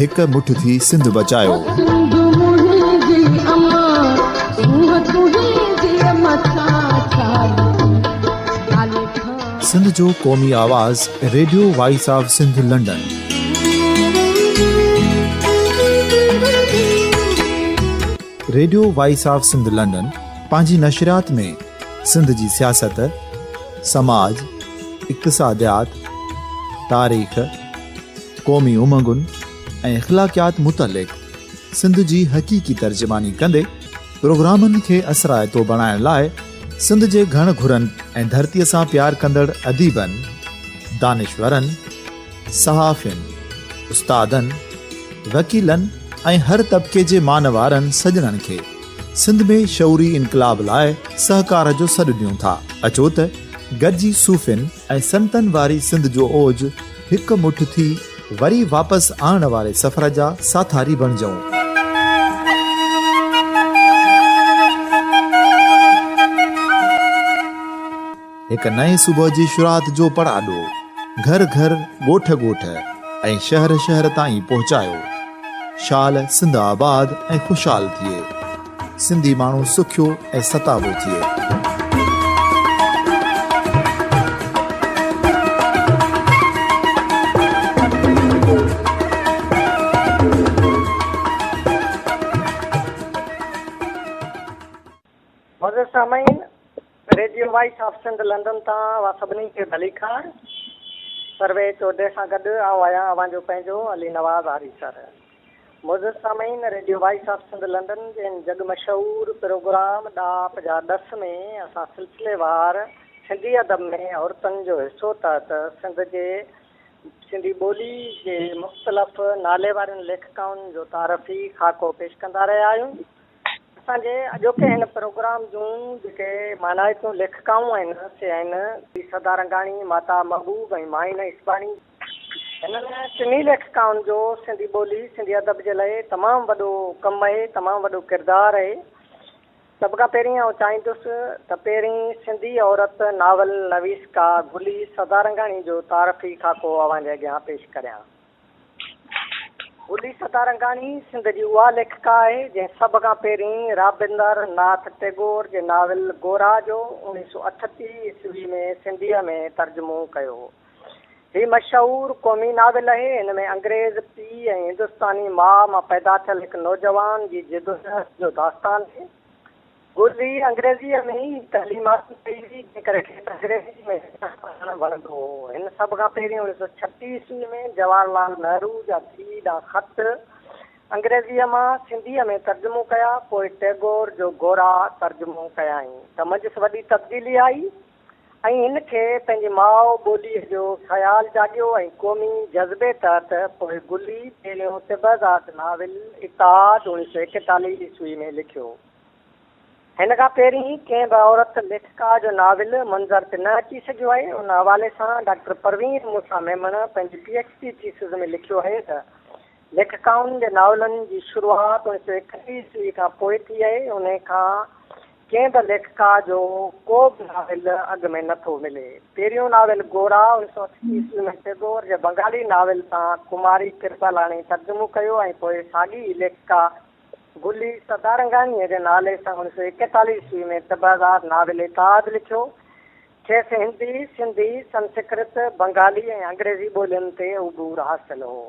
هڪ مٺ ٿي سنڌ بچايو. سنڌو منهن جي اما سونهن تنهن جي اما ڇا سنڌ جو قومي آواز radio voice of Sindh London radio voice of Sindh London پنهنجي نشريات ۾ سنڌ جي سياست سماج اقتصاديات تاريخ قومي امنگن ۽ اخلاقيات متعلق سنڌ جي حقيقي ترجماني ڪندي پروگرامن کي اثرائتو بڻائڻ لاء سنڌ جي گهڻ گهرن ۽ ڌرتيء سان پيار ڪندڙ اديبن، دانشورن، صحافين، استادن، وڪيلن ۽ هر طبقي جي مان وارن سڄڻن کي سنڌ ۾ شعوري انقلاب لاء سهڪار جو سڏ ڏيون ٿا. اچو ته گڏجي صوفين، ۽ سنتن واري سنڌ جو اوج هڪ مٺ ٿي وري واپس آڻڻ واري سفر جا ساٿاري بڻجئون. هڪ نئين صبح جي شروعات جو پڙاڏو گهر گهر، ڳوٺ ڳوٺ ۽ شهر شهر تائين پهچايو. شال سنڌ آباد ۽ خوشحال ٿئي. سنڌي ماڻهو سکيو ۽ ستابو ٿئي. معزز سامعين radio voice of Sindh London تان اوهان سڀني کي ڀليڪار سروي چوڌري سان گڏ آئون آهيان اوهان جو پنهنجو علي نواز آريسر. معزز سامعين radio voice of Sindh London جي هن جڳ مشهور پروگرام ڏاهپ جا ڏس ۾ اسان سلسلي وار سنڌي ادب ۾ عورتن جو حصو تحت سنڌ جي سنڌي ٻولي جي مختلف نالي وارين ليکڪائن جو تعارفي خاڪو پيش ڪندا رهيا آهيون اسان جي اڄوڪي هن پروگرام جون جيڪي مانائتون ليکڪائون آهن سي آهن بي سدا رنگاڻي ماتا محبوب ۽ مائين اسباڻي هنن ٽنهي ليکڪائن جو سنڌي ٻولي، سنڌي ادب جي لاء تمام وڏو ڪم اهي، تمام وڏو ڪردار اهي. سڀ کان پهرين آئون چاهيندس ته پهرين سنڌي عورت ناول نويسڪا گلي سدارنگاڻي جو تعارفي خاڪو اوهان جي اڳيان پيش ڪريان. گلي سدارنگاڻي سنڌ جي اها ليکڪا آهي، جنهن سڀ کان پهرين رابندر ناٿ ٽيگور جي ناول گورا جو اڻيهه سؤ اٺٽيهه عيسوي ۾ سنڌيء ۾ ترجمو ڪيو هو. هي مشهور قومي ناول اهي، هن ۾ انگريز پيء ۽ هندستاني ماء مان پيدا ٿيل هڪ نوجوان جي جدوجهد جو داستان آهي. گل هي انگريزيء ۾ ئي تعليم حاصل ڪئي هئي، جنهن ڪري کيس انگريزيء ۾ لکڻ پڙهڻ وڻندو هو. هن سڀ کان پهرين اڻويهه سؤ ڇٽيهه عيسويء ۾ جواهر لال نهرو جا ڌيء ڏانهن خط انگريزيء مان سنڌيء ۾ ترجمو ڪيا، پوء ٽئگور جو گورا ترجمو ڪيائين ته منجهس وڏي تبديلي آئي. ۽ هن کي پنهنجي ماء ٻوليء جو خيال جاڳيو ۽ قومي جذبي تحت پوء گلي پهريون طبعزاد ناول اتحاد اوڻيھ سؤ ايڪيتاليھ عيسوي ۾ لکيو. هن کان پهرين ڪنهن به عورت ليکڪا جو ناول منظر تي نه اچي سگهيو آهي. ان حوالي سان ڊاڪٽر پروين موسيٰ ميمڻ پنهنجي پي ايڇ ڊي ٿيسز ۾ لکيو آهي ته، ليکڪائن جي ناولن جي شروعات اوڻيھ سؤ ايڪٽيھ عيسوي کان پوء ٿي آهي، انهي کان ڪنهن به ليکڪا جو ڪو به ناول اڳ ۾ نه ٿو ملي. پهريون ناول گورا انيس سؤ اٺ عيسوي ۾ ٽئگور جي بنگالي ناول تان ڪماري ڪرپالاڻي ترجمو ڪيو ۽ پوء ساڳي ئي ليکڪا گلي سدارنگاڻيء جي نالي سان انيس سؤ ايڪيتاليهه عيسوي ۾ طبعدار ناول اتحاد لکيو. کيس هندي، سنڌي، سنسڪرت، بنگالي ۽ انگريزي ٻولين تي عبور حاصل هو.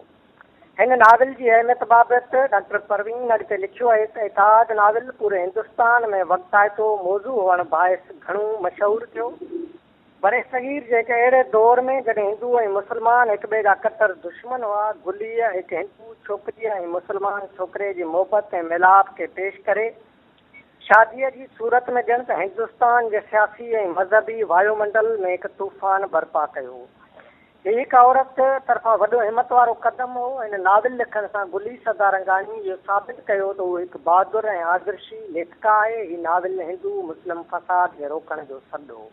هن ناول جي اهميت بابت ڊاڪٽر پروين اڳتي لکيو آهي ته اتحاد ناول پوري هندستان ۾ وقتائتو موضوع هئڻ باعث گهڻو مشهور ٿيو. برصغير جي هڪ اهڙي دور ۾ جڏهن هندو ۽ مسلمان هڪٻئي جا ڪٽر دشمن هئا، گليء هڪ هندو ڇوڪريء ۽ مسلمان ڇوڪري جي محبت ۽ ميلاپ کي پيش ڪري شاديء جي صورت ۾ ڄڻ ته هندستان جي سياسي ۽ مذهبي وايومنڊل ۾ هڪ طوفان برپا ڪيو. هي هڪ عورت طرفان وڏو همت وارو قدم هو. هن ناول لکڻ سان گلي سدارنگاڻي اهو ثابت ڪيو ته هو هڪ بهادر ۽ آدرشي ليکڪا آهي. هي ناول هندو مسلم فساد کي روڪڻ جو سڏ هو.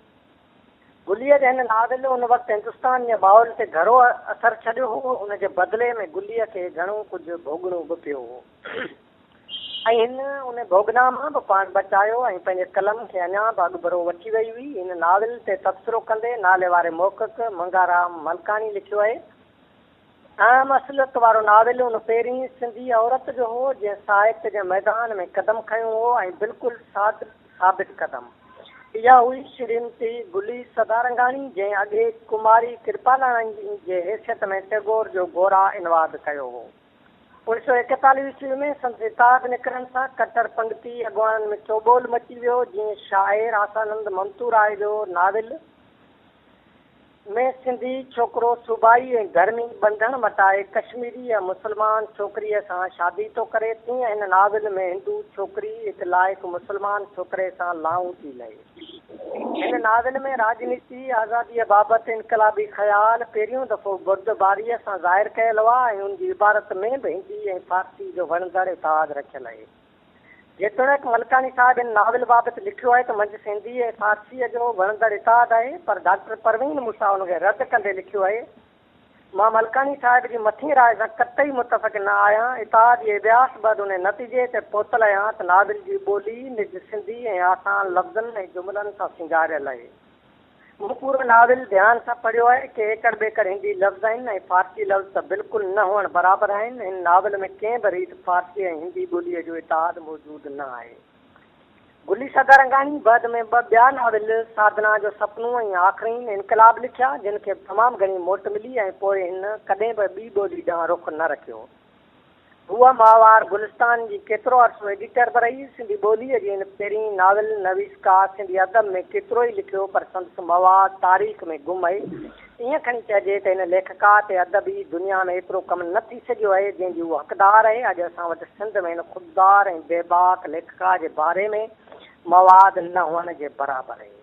گليء جي هن ناول ان وقت هندستان جي ماحول تي گھرو اثر ڇڏيو هو. ان جي بدلي ۾ گليء کي گھڻو ڪجهه ڀوڳڻو به پيو هو. ۽ هن ان ڀوڳنا مان به پاڻ بچايو ۽ پنهنجي قلم کي اڃا به اڳڀرو وٺي وئي هئي. هن ناول تي تبصرو ڪندي ناليواري محقق منگهارام ملڪاڻي لکيو آهي، اهم اصليت وارو ناول ان پهرين سنڌي عورت جو هو، جنهن ساهت جي ميدان ۾ قدم کنيو هو ۽ بلڪل ساڌ ثابت قدم. اها هئي شريمتي گلي سدارنگاڻي، جنهن اڳي ڪماري ڪرپالاڻي جي حيثيت ۾ ٽئگور جو گورا انواد ڪيو هو. اڻ سؤ ايڪيتاليهه عيسوي ۾ سندس اتحاد نڪرڻ سان ڪٽر پنگتي اڳواڻن ۾ چوٻول مچي ويو، جيئن شاعر آسانند ممتوراء جو ناول ۾ سنڌي ڇوڪرو صوبائي ۽ ڌرمي ٻنڌڻ مٽائي ڪشميري يا مسلمان ڇوڪريء سان شادي ٿو ڪري، تيئن هن ناول ۾ هندو ڇوڪري هڪ لائق مسلمان ڇوڪري سان لانئون ٿي لهي. هن ناول ۾ راڄنيتي آزاديء بابت انقلابي خيال پهريون دفعو بردباريء سان ظاهر ڪيل هئا ۽ ان جي عبارت ۾ به هندي ۽ فارسي جو وڻندڙ اتحاد رکيل اهي. جيتوڻيڪ ملڪاڻي صاحب هن ناول بابت لکيو آهي ته منجهس هندي ۽ فارسيء جو وڻندڙ اتحاد آهي پر ڊاڪٽر پروين موسيٰ ان کي رد ڪندي لکيو اهي، مان ملڪاڻي صاحب جي مٿين راء سان قطعي متفق نه آهيان. اتحاد جي اڀياس بعد ان نتيجي تي پهتل آهيان ته ناول جي ٻولي نج سنڌي ۽ آسان لفظن ۽ جملن سان سينگاريل آهي. مون پورو ناول ڌيان سان پڙهيو آهي. ڪي ايڪڙ ٻيڪڙ هندي لفظ آهن ۽ فارسي لفظ ته بلڪل نه هئڻ برابر آهن. هن ناول ۾ ڪنهن به ريت فارسي ۽ هندي ٻوليء جو اتحاد موجود نه آهي. گلي سدارنگاڻي بعد ۾ ٻه ٻيا ناول سادنا جو سپنو ۽ آخرين انقلاب لکيا، جن کي به تمام گهڻي موٽ ملي ۽ پوء هن ڪڏهن به ٻي ٻولي ڏانهن رخ نه رکيو. هوء ماهوار گلستان جي ڪيترو عرصو ايڊيٽر به رهي. سنڌي ٻوليء جي هن پهرين ناول نويس ڪا سنڌي ادب ۾ ڪيترو ئي لکيو پر سندس مواد تاريخ ۾ گم آهي. ائين کڻي چئجي ته هن ليکڪا تي ادبي دنيا ۾ ايترو ڪم نه ٿي سگهيو آهي، جنهن جي هو حقدار آهي. اڄ اسان وٽ سنڌ ۾ هن خوددار ۽ بيباڪ ليکڪا جي باري ۾ مواد نه هئڻ جي برابر آهي.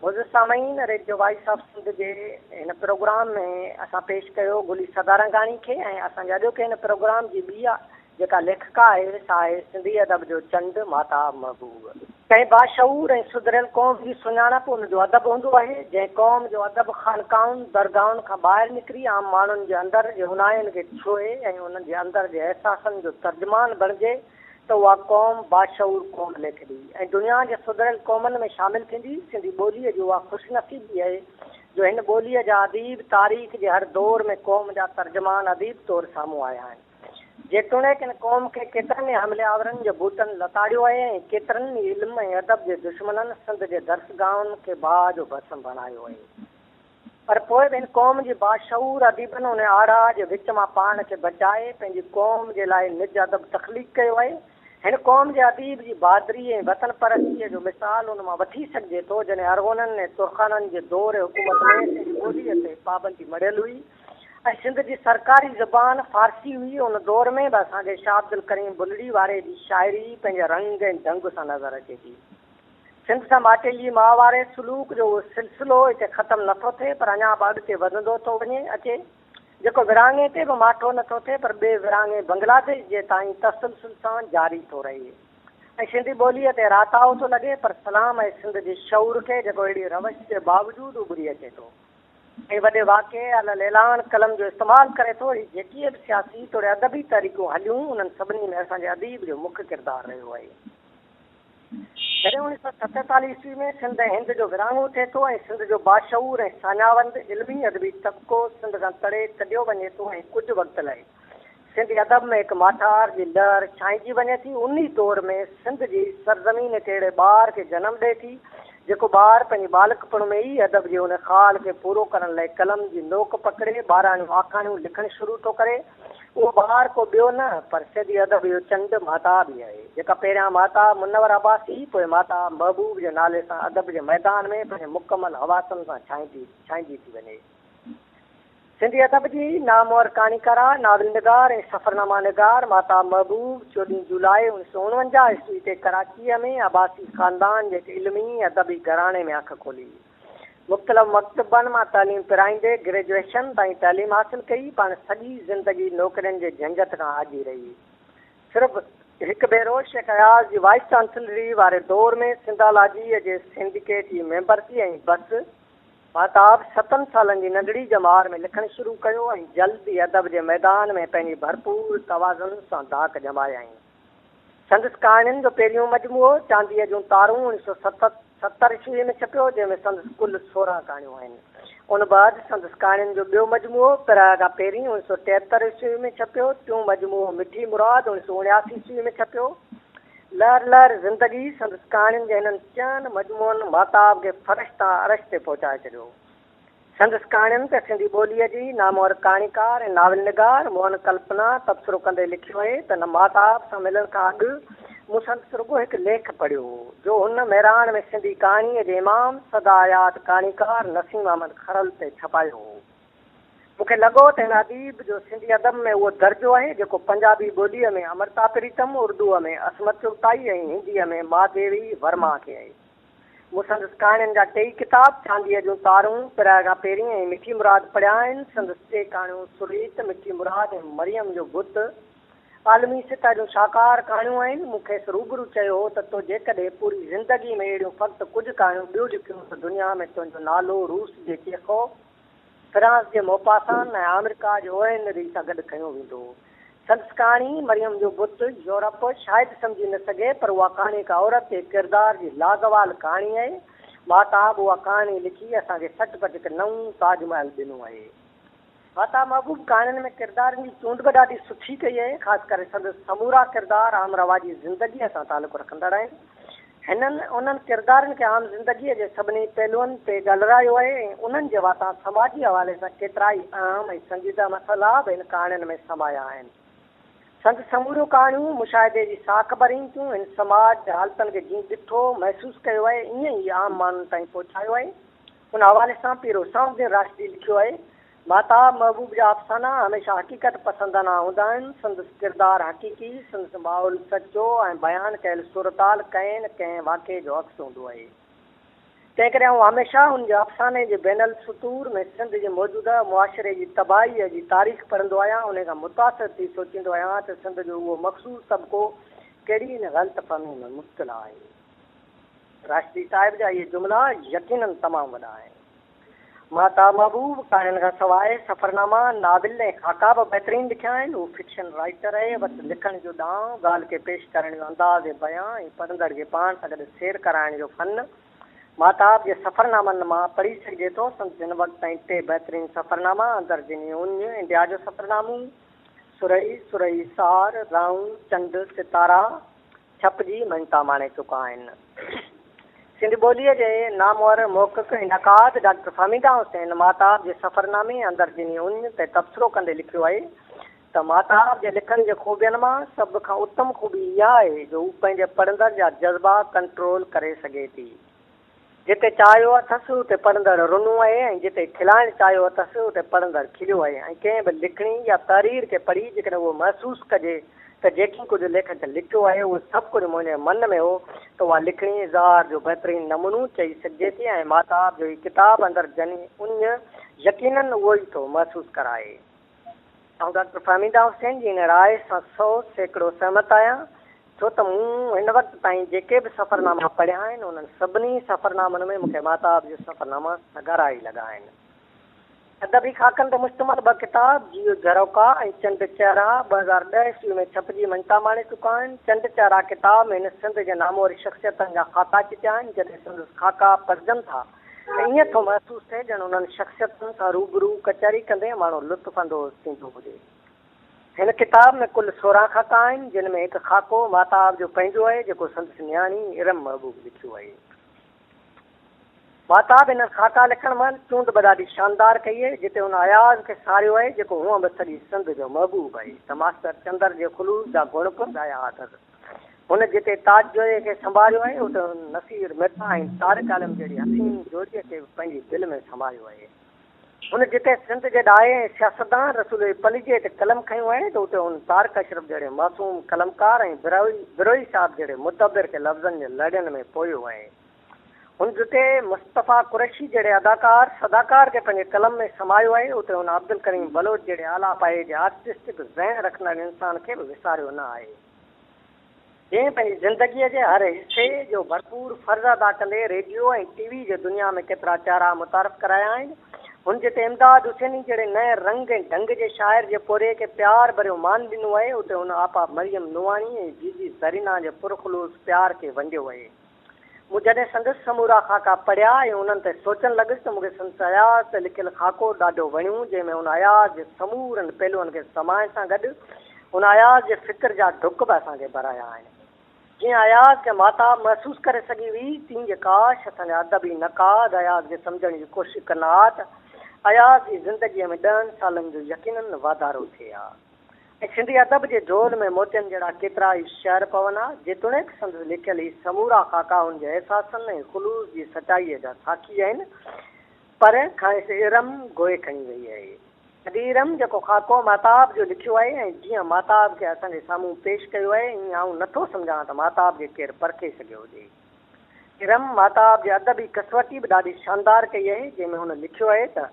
معزز سامعين! ريڊيو وائيس آف سنڌ جي هن پروگرام ۾ اسان پيش ڪيو گلي سدارنگاڻي کي ۽ اسان جي اڄوڪي هن پروگرام جي ٻيء جيڪا ليکڪا آهي سا آهي سنڌي ادب جو چنڊ ماتا محبوب. ڪنهن باشعور ۽ سڌريل قوم جي سڃاڻپ ان جو ادب هوندو آهي، جنهن قوم جو ادب خانقاهن، درگاهن کان ٻاهر نڪري عام ماڻهن جي اندر جي هونهاين کي ڇهي ۽ انهن جي اندر جي احساسن جو ترجمان بڻجي ته اها قوم باشعور قوم ليکبي ۽ دنيا جي سڌريل قومن ۾ شامل ٿيندي، سنڌي ٻوليء جي اها خوش نصيبي اهي جو هن ٻوليء جا اديب تاريخ جي هر دور ۾ قوم جا ترجمان اديب طور سامهون آيا آهن. جيتوڻيڪ ان قوم کي ڪيترن ئي حملي آورن جي بوتن لتاڙيو آهي ۽ ڪيترن ئي علم ۽ ادب جي دشمنن سنڌ جي درسگاهن کي باهه جو ڀسم بڻايو آهي پر پوء به ان قوم جي باشعور اديبن ان آڙاهه جي وچ مان پاڻ کي بچائي پنهنجي قوم جي لاء نج ادب تخليق ڪيو آهي هن قوم جي اديب جي بهادري ۽ وطن پرستيء جو مثال ان مان وٺي سگهجي ٿو جڏهن ارغونن ۽ ترخانن جي دور حڪومت ۾ پنهنجي ٻوليء تي پابندي مڙهيل هئي ۽ سنڌ جي سرڪاري زبان فارسي هئي. ان دور ۾ به اسان کي شاهه عبدالڪريم بلڙي واري جي شاعري پنهنجي رنگ ۽ ڍنگ سان نظر اچي ٿي. سنڌ سان ماٽيجي ماء واري سلوڪ جو اهو سلسلو هتي ختم نه ٿو ٿئي پر اڃا به اڳتي وڌندو ٿو وڃي اچي جيڪو ورهاڱي تي به ماٺو نه ٿو ٿئي پر ٻئي ورهاڱي بنگلاديش جي تائين تسلسل سان جاري ٿو رهي ۽ سنڌي ٻوليء تي راتاهو ٿو لڳي پر سلام اهي سنڌ جي شعور کي جيڪو اهڙي روش جي باوجود اڀري اچي ٿو. ۽ وڏي واقعي الاعلان قلم جو استعمال ڪري ٿو. هي جيڪي به سياسي توڙي ادبي تحريڪون هليون، انهن سڀني ۾ اسان جي اديب جو مک ڪردار رهيو آهي. جڏهن اڻيهه سؤ ستيتاليهه عيسوي ۾ سنڌ ۽ هند جو ورهاڱو ٿئي ٿو ۽ سنڌ جو باشعور ۽ ساڃاهوند علمي ادبي طبقو سنڌ کان تڙي ڪڍيو وڃي ٿو ۽ ڪجهه وقت لاء سنڌي ادب ۾ هڪ ماٺار جي لهر ڇائنجي وڃي ٿي، انهي دور ۾ سنڌ جي سرزمين هڪ اهڙي ٻار کي جنم ڏئي ٿي، جيڪو ٻار پنهنجي ٻالڪپڻ ۾ ئي ادب جي ان خال کي پورو ڪرڻ لاء قلم جي نوڪ پڪڙي ٻاراڻيون آکاڻيون لکڻ شروع ٿو ڪري. اهو ٻار ڪو ٻيو نه پر سنڌي ادب جو چنڊ مهتاب ئي آهي، جيڪا پهريان مهتاب منور عباسي، پوء مهتاب محبوب جي نالي سان ادب جي ميدان ۾ پنهنجي مڪمل حواسن سان ڇائنجي ٿي وڃي. سنڌي ادب جي نامور ڪهاڻيڪاره، ناول نگار ۽ سفرناما نگار ماهتاب محبوب چوڏهين جولاء اوڻيھ سؤ اڻونجاهه عيسوي تي ڪراچيء ۾ عباسي خاندان جي هڪ علمي ادبي گهراڻي ۾ اک کولي. مختلف مڪتبن مان تعليم پرائيندي گريجوئيشن تائين تعليم حاصل ڪئي. پاڻ سڄي زندگي نوڪرين جي جهنجهٽ کان آجي رهي. صرف هڪ ڀيرو شيخ اياز جي وائيس چانسلريء واري دور ۾ سنڌالاجيء جي سنڊيڪيٽ جي ميمبر ٿي ۽ بس. ماهتاب ستن سالن جي ننڍڙي ڄمار ۾ لکڻ شروع ڪيو ۽ جلد ئي ادب جي ميدان ۾ پنهنجي ڀرپور توازن سان ڌاڪ ڄمايائين. سندس ڪهاڻين جو پهريون مجموعو چانديء جون تارون اڻ سؤ ست ستر عيسويء ۾ ڇپيو، جنهن ۾ سندس ڪل سورهن ڪهاڻيون آهن. ان بعد سندس ڪهاڻين جو ٻيو مجموعو پراء کان پهرين اڻ سؤ ٽيهتر عيسويء ۾ ڇپيو، ٽيون مجموعو مٺي مراد اڻ سؤ اڻياسي عيسويء ۾ ڇپيو. لهر لهر زندگي سندس ڪهاڻين جي هنن چئن مجموعن ماتاب کي فرش تان عرش تي پهچائي ڇڏيو. سندس ڪهاڻين تي سنڌي ٻوليء جي نامور ڪهاڻيڪار ۽ ناول نگار موهن ڪلپنا تبصرو ڪندي لکيو آهي ته نه ماتاب سان ملڻ کان اڳ مون سندس رڳو هڪ ليک پڙهيو هو جو هن مهراڻ ۾ سنڌي ڪهاڻيء جي امام سدا ياد ڪهاڻيڪار نسيم احمد کهرل تي ڇپايو هو. مون کي لڳو ته هن اديب جو سنڌي ادب ۾ اهو درجو آهي جيڪو پنجابي ٻوليء ۾ امرتا پريتم، اردوء ۾ عصمت چغتائي ۽ هنديء ۾ مهاديوي ورما کي آهي. مون سندس ڪهاڻين جا ٽيئي ڪتاب چانديء جون تارون، پراء کان پهرين ۽ مٺي مراد پڙهيا آهن. سندس ٽي ڪهاڻيون سريت، مٺي مراد ۽ مريم جو بت عالمي سطح جون شاهڪار ڪهاڻيون آهن. مون کيس روبرو چيو هو ته تو جيڪڏهن پوري زندگي ۾ اهڙيون فقط ڪجهه ڪهاڻيون ٻيون لکيون ته دنيا ۾ تنهنجو نالو روس جي چيخوف، فرانس جي موپاسان ۽ آمريڪا جي اوهينري سان گڏ کنيو ويندو هو. سندس ڪهاڻي مريم جو بت، يورپ، شايد سمجهي نه سگهي پر اها ڪهاڻي هڪ عورت جي ڪردار جي لازوال ڪهاڻي آهي. ماهتاب اها ڪهاڻي لکي اسان کي سٽ پٽ هڪ نئون تاج محل ڏنو آهي. ماهتاب محبوب ڪهاڻين ۾ ڪردارن جي چونڊ به ڏاڍي سٺي ڪئي آهي، خاص ڪري سندس سمورا ڪردار عام رواجي زندگيء سان تعلق رکندڙ آهن. هنن انهن ڪردارن کي عام زندگيء جي سڀني پهلوئن تي ڳالهرايو آهي ۽ انهن جي واتان سماجي حوالي سان ڪيترائي اهم ۽ سنجيده مسئلا به هن ڪهاڻين ۾ سمايا آهن. سندس سموريون ڪهاڻيون مشاهدي جي ساک ڀرين ٿيون، هن سماج جي حالتن کي جيئن ڏٺو، محسوس ڪيو آهي، ائين ئي عام ماڻهن تائين پهچايو آهي. ان حوالي سان پير حسام الدين راشدي لکيو آهي ماهتاب محبوب جا افسانا هميشه حقيقت پسندانه هوندا آهن، سندس ڪردار حقيقي، سندس ماحول سچو ۽ بيان ڪيل صورتحال ڪنهن نه ڪنهن واقعي جو عڪس هوندو اهي. تنهن ڪري آئون هميشه هن جي افساني جي بين السطور ۾ سنڌ جي موجوده معاشري جي تباهيء جي تاريخ پڙهندو آهيان، انهي کان متاثر ٿي سوچيندو آهيان ته سنڌ جو اهو مخصوص طبقو ڪهڙي نه غلط فهمي ۾ مبتلا آهي. راشدي صاحب جا اهي جملا يقيناً تمام وڏا آهن. مهتاب محبوب ڪهاڻين کان سواء سفرناما، ناول ۽ خاڪا به بهترين لکيا آهن. هو فڪشن رائيٽر اهي وت لکڻ جو ڏانء، ڳالهه کي پيش ڪرڻ جو انداز بيان ۽ پڙهندڙ کي پاڻ سان گڏ سير ڪرائڻ جو فن مهتاب جي سفرنامن مان پڙهي سگهجي ٿو. سندس هن وقت تائين ٽي بهترين سفرناما اندر جني اونج، انڊيا جو سفرنامون، سرهي، سرهي سار، رئون، چنڊ، ستارا، ڇپ جي مڃتا ماڻي چڪا آهن. سنڌي ٻوليء جي نامور محقق ۽ نقاد ڊاڪٽر فهميده حسين ماهتاب جي سفرنامي اندر ڏني اڃ تي تبصرو ڪندي لکيو آهي ته ماهتاب جي لکڻ جي خوبين مان سڀ کان اتم خوبي اها آهي جو هو پنهنجي پڙهندڙ جا جذبا ڪنٽرول ڪري سگهي ٿي. جتي چاهيو اٿس اتي پڙهندڙ رنو اهي ۽ جتي کلائڻ چاهيو اٿس اتي پڙهندڙ کليو اهي ۽ ڪنهن به لکڻي يا تحرير کي پڙهي جيڪڏهن اهو محسوس ڪجي ته جيڪي ڪجهه ليکڪ لکيو اهي اهو سڀ ڪجهه منهنجي من ۾ هو ته اها لکڻي اظهار جو بهترين نمونو چئي سگهجي ٿي ۽ ماهتاب جو هي ڪتاب اندر جني اڃ يقينن اهو ئي ٿو محسوس ڪرائي. آئون ڊاڪٽر فهميده حسين جي ان راء سان سؤ سيڪڙو سهمت آهيان، ڇو ته مون هن وقت تائين جيڪي به سفرناما پڙهيا آهن، انهن سڀني سفرنامن ۾ مون کي ماهتاب جو سفرناما سگهارا ئي لڳا آهن. ادبي خاڪن تي مشتمل ٻه ڪتاب جيو جهروڪا ۽ چنڊ چهرا ٻه هزار ڏهه عيسوي ۾ ڇپجي مڃتا ماڻي چڪا آهن. چنڊ چهرا ڪتاب ۾ هن سنڌ جي نامور شخصيتن جا خاڪا چٽيا آهن، جڏهن سندس خاڪا پڙهجن ٿا، ته ائين ٿو محسوس ٿئي ڄڻ انهن شخصيتن سان روبرو ڪچهري ڪندي ماڻهو لطف اندوز ٿيندو هجي. هن ڪتاب ۾ ڪل سورهن خاڪا آهن، جن ۾ هڪ خاڪو ماهتاب جو پنهنجو آهي، جيڪو سندس نياڻي ارم محبوب لکيو آهي. ماهتاب هنن خاڪا لکڻ مهل چونڊ به ڏاڍي شاندار ڪئي آهي، جتي هن اياز کي ساريو آهي، جيڪو هونء به سڄي سنڌ جو محبوب آهي، ته ماستر چندر جي خلوص جا گڻ به ڳايا اٿس. هن جتي تاج جويي کي سنڀاريو آهي، اتي هن نصير ميتا ۽ طارق عالم جهڙي حسين جوڙيء کي به پنهنجي دل ۾ سنڀاريو آهي. هن جتي سنڌ جي ڏاهي ۽ سياستدان رسول پليجي تي قلم کنيو آهي ته اتي هن طارق اشرف جهڙي معصوم قلمڪار ۽ بروهي صاحب جهڙي مدبر کي لفظن جي لڙين ۾ پويو آهي. هن جتي مصطفيٰ قريشي جهڙي اداڪار صداڪار کي پنهنجي قلم ۾ سمايو آهي، اتي هن عبدالڪريم بلوچ جهڙي اعليٰ پايي جي آرٽسٽڪ ذهن رکندڙ انسان کي به وساريو نه آهي، جنهن پنهنجي زندگيء جي هر حصي جو ڀرپور فرض ادا ڪندي ريڊيو ۽ ٽي وي جي دنيا ۾ ڪيترا چهرا متعارف ڪرايا آهن. هن جتي امداد حسيني جهڙي نئين رنگ ۽ ڍنگ جي شاعر جي پورهيي کي پيار ڀريو مان ڏنو آهي، اتي هن آپا مريم نوحاڻي ۽ جيجي زرينان جي پرخلوص پيار کي ونڊيو آهي. مون جڏهن سندس سمورا خاڪا پڙهيا ۽ انهن تي سوچڻ لڳس ته مون کي سندس اياز تي لکيل خاڪو ڏاڍو وڻيو، جنهن ۾ هن اياز جي سمورن پهلوئن کي سمائڻ سان گڏ هن اياز جي فڪر جا ڍڪ به اسان کي ڀرايا آهن. جيئن اياز کي ماتاب محسوس ڪري سگهي هئي، تيئن جي ڪاش اسان جا ادبي نقاد اياز کي سمجهڻ جي ڪوشش ڪن ها ته اياز جي زندگيء ۾ ڏهن سالن جو يقينن واڌارو ٿئي ها. ۽ سنڌي ادب جي جهول ۾ موتين جهڙا ڪيترا ئي شعر پون ها، جيتوڻيڪ سندس لکيل هي سمورا خاڪا هن جي احساسن ۽ خلوص جي سچائيء جا ساکي آهن، پر کانئس ارم گوئي کڻي ويئي آهي. ادي ارم جيڪو خاڪو ماهتاب جو لکيو آهي ۽ جيئن ماهتاب کي اسان جي سامهون پيش ڪيو آهي، ائين آئون نه ٿو سمجهان ته ماهتاب کي ڪير پرکي سگهيو هجي. ارم ماهتاب جي ادبي ڪسوٽي به ڏاڍي شاندار ڪئي آهي، جنهن ۾ هن لکيو آهي ته.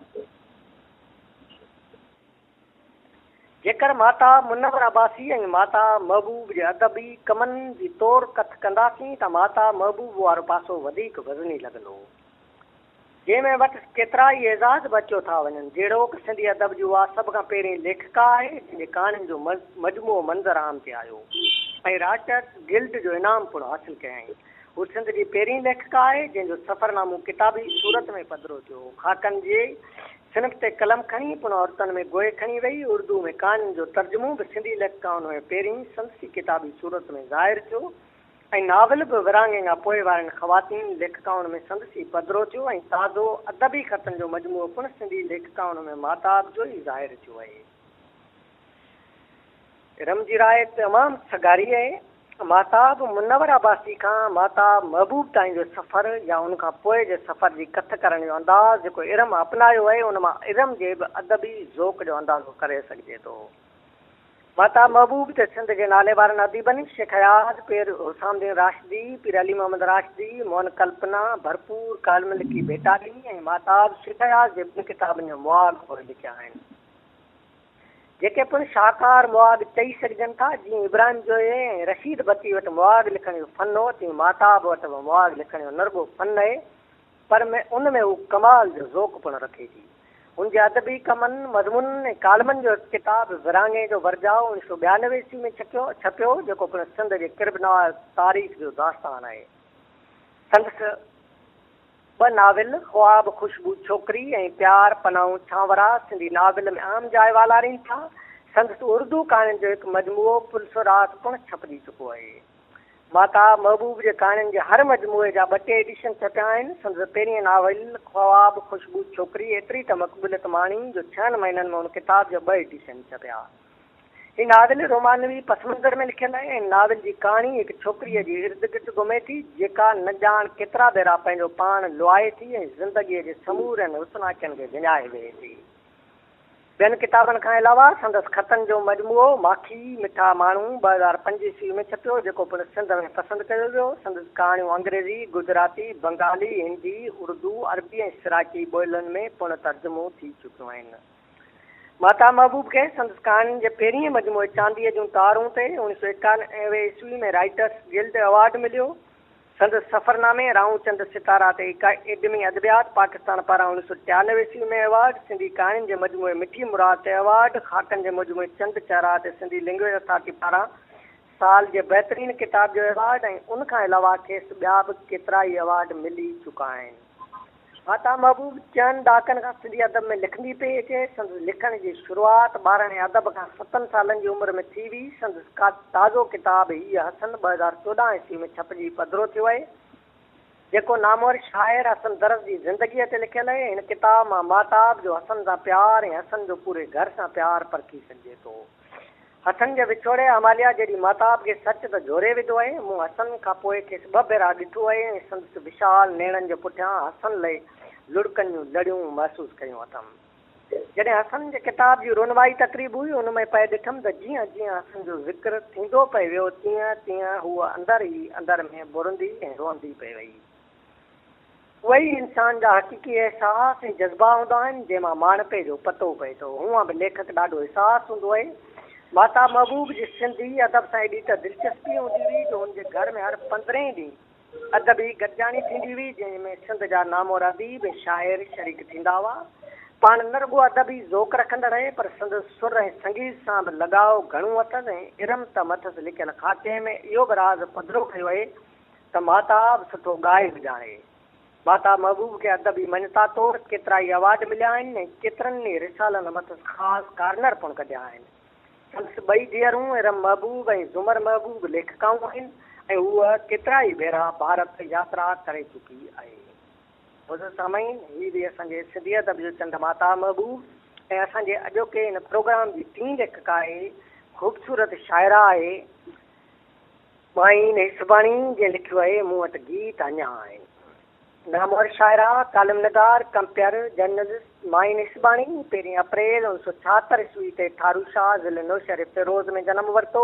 جيڪر ماتا منوره عباسي ۽ ماتا محبوب جي ادبي ڪمن جي تور ڪٿ ڪنداسين ته ماتا محبوب وارو پاسو وڌيڪ وزني لڳندو. جنهن ۾ وٽ ڪيترائي اعزاز به اچيو ٿا وڃن جهڙوڪ سنڌي ادب جي اها سڀ کان پهرين ليکڪا آهي جنهن جي ڪهاڻين جو مجموعو منظر عام تي آيو ۽ رائٽرس گلڊ جو انعام پڻ حاصل ڪيائين هو سنڌ جي پهرين ليکڪا آهي جنهن جو سفرنامو ڪتابي صورت ۾ پڌرو ٿيو خاڪن جي سنڌ تي قلم کڻي پڻ عورتن ۾ گوهي کڻي ويئي. اردوء ۾ ڪهاڻين جو ترجمو به سنڌي ليکڪائن هيء پيرين سندسي ڪتابي صورت ۾ ظاهر ٿيو ۽ ناول به ورهاڱينگا پوء وارين خواتين ليکڪائن ۾ سندسي پڌرو ٿيو ۽ تازو ادبي خطن جو مجموعو پڻ سنڌي ليکڪائن ۾ ماهتاب جو ئي ظاهر ٿيو اهي ارم جي راء تمام سگهاري اهي. ماهتاب منور عباسي کان ماهتاب محبوب تائين جو سفر يا ان کان پوء جي سفر جي ڪٿ ڪرڻ جو انداز جيڪو ارم اپنايو اهي ان مان ارم جي به ادبي ذوق جو اندازو ڪري سگهجي ٿو. ماهتاب محبوب تي سنڌ جي ناليوارن اديبن شيخ اياز، پير حسام الدين راشدي، پير علي محمد راشدي، موهن ڪلپنا، ڀرپور ڪالم لکي ڀيٽا ڏني ۽ ماهتاب شيخ اياز جي ٻن ڪتابن جو مواخ پوء لکيا آهن. جيڪي پڻ شاهڪار مواڳ چئي سگهجن ٿا، جيئن ابراهيم جويي ۽ رشيد بتي وٽ مواڳ لکڻ جو فن هو، تيئن ماهتاب وٽ به مواڳ لکڻ جو نه رڳو فن نهي، پر ۾ ان ۾ هو ڪمال جو ذوق پڻ رکي ٿي. هن جي ادبي ڪمن، مضمونن ۽ ڪالمن جو هڪ ڪتاب ورهاڱي جو ورجاء اوڻيهه سؤ ٻيانوي عيسوي ۾ ڇڪيو ڇپيو هو، جيڪو پڻ سنڌ جي قربنواز تاريخ جو داستان آهي. سندس. ٻه ناول خواب خوشبو ڇوڪري ۽ پيار پناهون سانورا سنڌي ناول ۾ اهم جاء والارين ٿا. سندس اردو ڪهاڻين جو هڪ مجموعو پلسورات پڻ ڇپجي چڪو اهي. ماتا محبوب جي ڪهاڻين جي هر مجموعي جا ٻه ٽي ايڊيشن ڇپيا آهن. سندس پهرينء ناول خواب خوشبو ڇوڪري ايتري ته مقبوليت ماڻي جو ڇهن مهينن ۾ ان ڪتاب جا ٻه ايڊيشن ڇپيا. هي ناول رومانوي پس منظر ۾ لکيل آهي ۽ ناول جي ڪهاڻي هڪ ڇوڪريء جي ارد گرد گهمي ٿي، جيڪا نه ڄاڻ ڪيترا ڀيرا پنهنجو پاڻ لوائي ٿي ۽ زندگيء جي سمورن حسناڪين کي وڃائي ويهي ٿي. ٻين ڪتابن کان علاوه سندس خطن جو مجموعو ماکي، مٺا ماڻهو، ٻه هزار پنج عيسوي ۾ ڇپيو، جيڪو پڻ سنڌ ۾ پسند ڪيو ويو. سندس ڪهاڻيون انگريزي، گجراتي، بنگالي، هندي، اردو، عربي ۽ سرائڪي ٻولين ۾ پڻ ترجمو ٿي چڪيون آهن. ماتا محبوب کي سندس ڪهاڻين جي پهرينء مجموعي چانديء جون تارون تي اوڻيهه سؤ ايڪانوي عيسوي ۾ رائيٽرس گلڊ ايوارڊ مليو. سندس سفرنامي رائون چند ستارا تي اڪيڊمي ادبيات پاڪستان پاران اوڻيهه سؤ ٽيانوي عيسوي ۾ ايوارڊ، سنڌي ڪهاڻين جي مجموعي مٺي مراد تي ايوارڊ، خاڪن جي مجموعي چند چهرا تي سنڌي لئنگويج اٿارٽي پاران سال جي بهترين ڪتاب جو ايوارڊ ۽ ان کان علاوه کيس ٻيا به ڪيترائي ايوارڊ ملي چڪا آهن. عطا محبوب چئن ڏهاڪن کان سنڌي ادب ۾ لکندي پئي اچي. سندس لکڻ جي شروعات ٻاراڻي ادب کان ستن سالن جي عمر ۾ ٿي هئي. سندس تازو ڪتاب هيء حسن ٻه هزار چوڏهن عيسوي ۾ ڇپجي پڌرو ٿيو اهي، جيڪو نامور شاعر حسن درس جي زندگيء تي لکيل اهي. هن ڪتاب مان ماهتاب جو حسن سان پيار ۽ حسن جو پوري گهر سان پيار پرکي سگهجي ٿو. هٿن جي وڇوڙي اماليا جيڏي ماهتاب کي سچ ته جهوري وڌو اهي مون حسن کان پوء کيس ٻه ڀيرا ڏٺو اهي ۽ سندس وشال نيڻن جي پٺيان حسن لئي لڙڪن جون لڙيون محسوس ڪيون اٿم جڏهن حسن جي ڪتاب جي رونمائي تقريب هئي ان ۾ پئي ڏٺم ته جيئن جيئن حسن جو ذڪر ٿيندو پئي ويو تيئن تيئن هوء اندر ئي اندر ۾ ٻرندي ۽ روئندي پئي وئي اهي ئي انسان جا حقيقي احساس ۽ جذبا هوندا آهن، جنهن مان ماڻهپي جو پتو پئي ٿو. هونئن به ليکڪ ڏاڍو حساس هوندو اهي. ماهتاب محبوب جي سنڌي ادب سان ايڏي ته دلچسپي هوندي هئي جو هن جي گهر ۾ هر پندرهين ڏينهن ادبي گڏجاڻي ٿيندي هئي، جنهن ۾ سنڌ جا نامور اديب ۽ شاعر شريڪ ٿيندا هئا. پاڻ نه رڳو ادبي ذوق رکندڙ اهي، پر سندس سر ۽ سنگيت سان به لڳاء گهڻو اٿس ۽ ارم تم اٿس لکيل خاڪي ۾ اهو به راز پڌرو ڪيو اهي ته ماهتاب سٺو ڳائي به ڄاڻي. ماهتاب محبوب کي ادبي مڃتا طور ڪيترائي ايوارڊ مليا آهن ۽ ڪيترن ئي رسالن مٿس خاص ڪارنر پڻ ڪڍيا آهن. سندس ٻئي ڌيئرون ارم محبوب ۽ زمر محبوب ليکڪائون آهن ۽ هوء ڪيترائي ڀيرا ڀارت ياترا ڪري چڪي آهي. معزز سامعين، هي هئي اسان جي سنڌي ادب جو چنڊ ماهتاب محبوب ۽ اسان جي اڄوڪي هن پروگرام جي ٽين ليکڪا اهي خوبصورت شاعره آهي. مائين هي سڀاڻي جنهن لکيو آهي مون وٽ گيت اڃا آهن. نامور شاعره، ڪالم نگار، ڪمپيئر، جرنلسٽ مائين هي سڀاڻي پهرين اپريل اوڻ سؤ ڇاهتر عيسوي تي ٺارو شاهه ضلعي نوشهري فيروز ۾ جنم ورتو.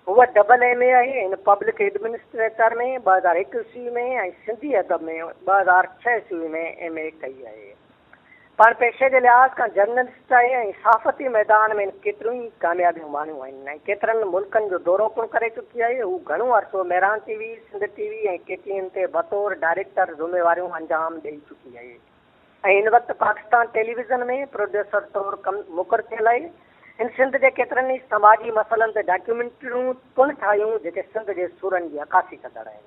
هوء ڊبل ايم اي آهي ان پبلڪ ايڊمنسٽريٽر ۾ ٻه هزار هڪ عيسوي ۾ ۽ سنڌي ادب ۾ ٻه هزار ڇهه عيسوي ۾ ايم اي ڪئي آهي. پاڻ پيشي جي لحاظ کان جرنلسٽائي ۽ صحافتي ميدان ۾ ڪيتريون ئي ڪاميابيون ماڻيون آهن ۽ ڪيترن ملڪن جو دورو پڻ ڪري چڪي آهي. هو گهڻو عرصو Mehran T V, Sindh T V ۽ K T N تي بطور ڊائريڪٽر ذميواريون انجام ڏئي چڪي آهي ۽ هن وقت پاڪستان ٽيليويزن ۾ پروڊيوسر طور ڪم مقر ٿيل آهي. هن سنڌ جي ڪيترن ئي سماجي مسئلن تي ڊاڪيومينٽريون پڻ ٺاهيون جيڪي سنڌ جي سورن جي عڪاسي ڪندڙ آهن.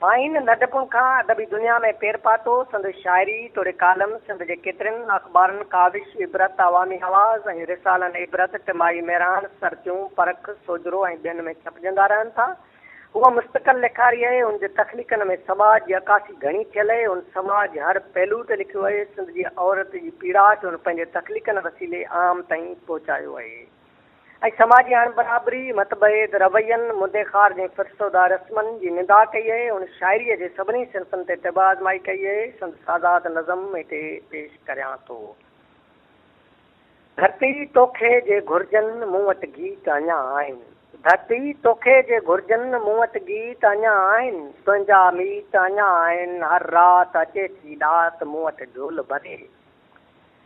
ماهين ننڍپڻ کان ادبي دنيا ۾ پير پاتو، سندس شاعري توڙي ڪالم سنڌ جي ڪيترين اخبارن ڪاوش، عبرت، عوامي آواز ۽ رسالن عبرت، ٽمائي مهراڻ، سرتيون، پرک، سوجهرو ۽ ٻين ۾ ڇپجندا رهن ٿا. هو مستقل لکاري اهي، هن جي تخليقن ۾ سماج جي عڪاسي گهڻي ٿيل اهي، هن سماج جي هر پهلو تي لکيو اهي، سنڌ جي عورت جي پيڙا کي هن پنهنجي تخليقن وسيلي عام تائين پهچايو اهي. ۽ سماجي اڻبرابري، متڀيد روين، مدي خار جي فرسوده رسمن جي نندا ڪئي اهي. هن شاعريء جي سڀني صنفن تي طب آزمائي ڪئي اهي. سندس آزاد نظم هتي پيش ڪريان ٿو. ڌرتي توکي جي گهرجن مون وٽ گيت اڃا آهن. ڌرتي توکي جي گهرجن مون وٽ گيت اڃا آهن. تنهنجا ميت اڃا آهن. هر رات اچي ٿي ڏات مون وٽ جهول ڀري.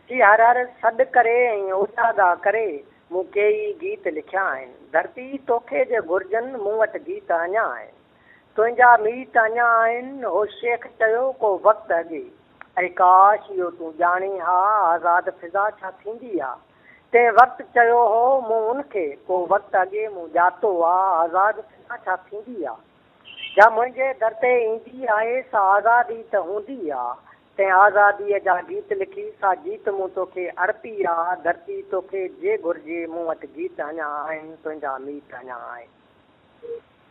ٿي هر هر سڏ ڪري ۽ اوچا ڳاهه ڪري مون ڪيئي گيت لکيا آهن ڌرتي توکي جي گهرجن مون وٽ گيت اڃا آهن تنهنجا ميت اڃا آهن هو شيخ چيو ڪو وقت اڳي اي ڪاش اهو تون ڄاڻين ها آزاد فضا ڇا ٿيندي آ تنهن وقت چيو هو مون ان کي ڪو وقت اڳي مون ڄاتو آ آزاد فضا ڇا ٿيندي آ جا منهنجي در تي ايندي آهي سا آزاد ئي ته هوندي آ تنهن آزاديء جا گيت لکي، سا جيت مون توکي ارپي آ، ڌرتي توکي جي گهرجي، مون وٽ گيت اڃا آهن، تنهنجا ميت اڃا آهن.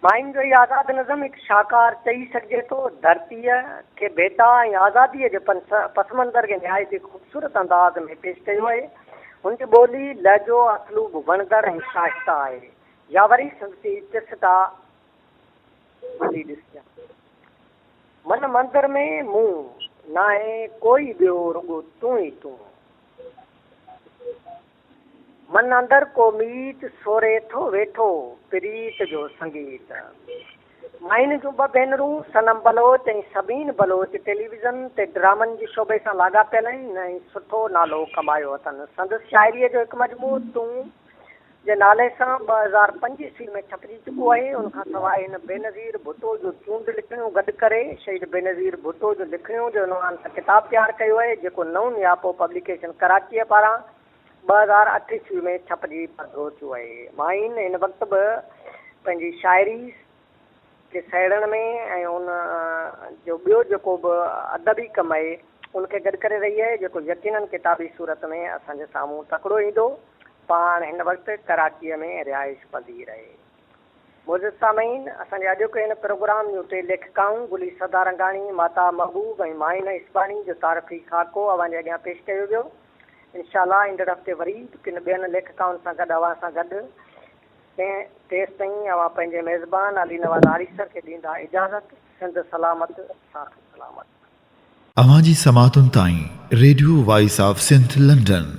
ماين جو هي آزاد نظم هڪ شاهڪار چئي سگهجي ٿو، ڌرتيء کي ڀيٽا ۽ آزاديء جي پسمنظر کي نهايت ئي خوبصورت انداز ۾ پيش ڪيو آهي. هن جي ٻولي، لهجو، اسلوب وڻندڙ ۽ شائسته آهي. يا وري سندس هي چسٽا. ڀلي ڏسجان من مندر ۾ مون ناهي ڪوئي ٻيو رڳو تون ئي تون من اندر ڪو ميت سوري ٿو ويٺو پريت جو سنگيت مائن جون ٻه ڀينرون صنم بلوچ ۽ سبين بلوچ ٽيليويزن تي ڊرامن جي شعبي سان لاڳاپيل آهن ۽ سٺو نالو ڪمايو اٿن سندس شاعري جو هڪ مجموعو تون جي نالي سان ٻه هزار پنج عيسوي ۾ ڇپجي چڪو آهي. ان کان سواء هن بينظير ڀٽو جون چونڊ لکڻيون گڏ ڪري شهيد بينظير ڀٽو جون لکڻيون جي عنوان سان ڪتاب تيار ڪيو آهي، جيڪو نئون نياپو پبليڪيشن ڪراچيء پاران ٻه هزار اٺ عيسوي ۾ ڇپجي پڌرو ٿيو آهي. ماهين هن وقت به پنهنجي شاعري، کي سهيڙڻ ۾ ۽ ان جو ٻيو جيڪو به ادبي ڪم آهي ان کي گڏ ڪري رهي آهي جيڪو يقينن ڪتابي صورت ۾ اسان جي سامهون تڪڙو ايندو. پاڻ هن وقت ڪراچيء ۾ رهائش پذير اهي. معزز سامعين! اسان جي اڄوڪي هن پروگرام جون ٽي ليکڪائون گلي سدارنگاڻي، ماتا محبوب ۽ مائنه اسباڻي جو تعارفي خاڪو اوهان جي اڳيان پيش ڪيو ويو. انشاء الله ايندڙ هفتي وري به ڪن ٻين ليکڪائن سان گڏ اوهان سان گڏ تنهن تيستائين اوهان پنهنجي ميزبان علي نواز آريسر کي ڏيندا اجازت، سنڌ سلامت، ساٿ سلامت. اوهان جي سماعتن تائين، radio voice of Sindh London.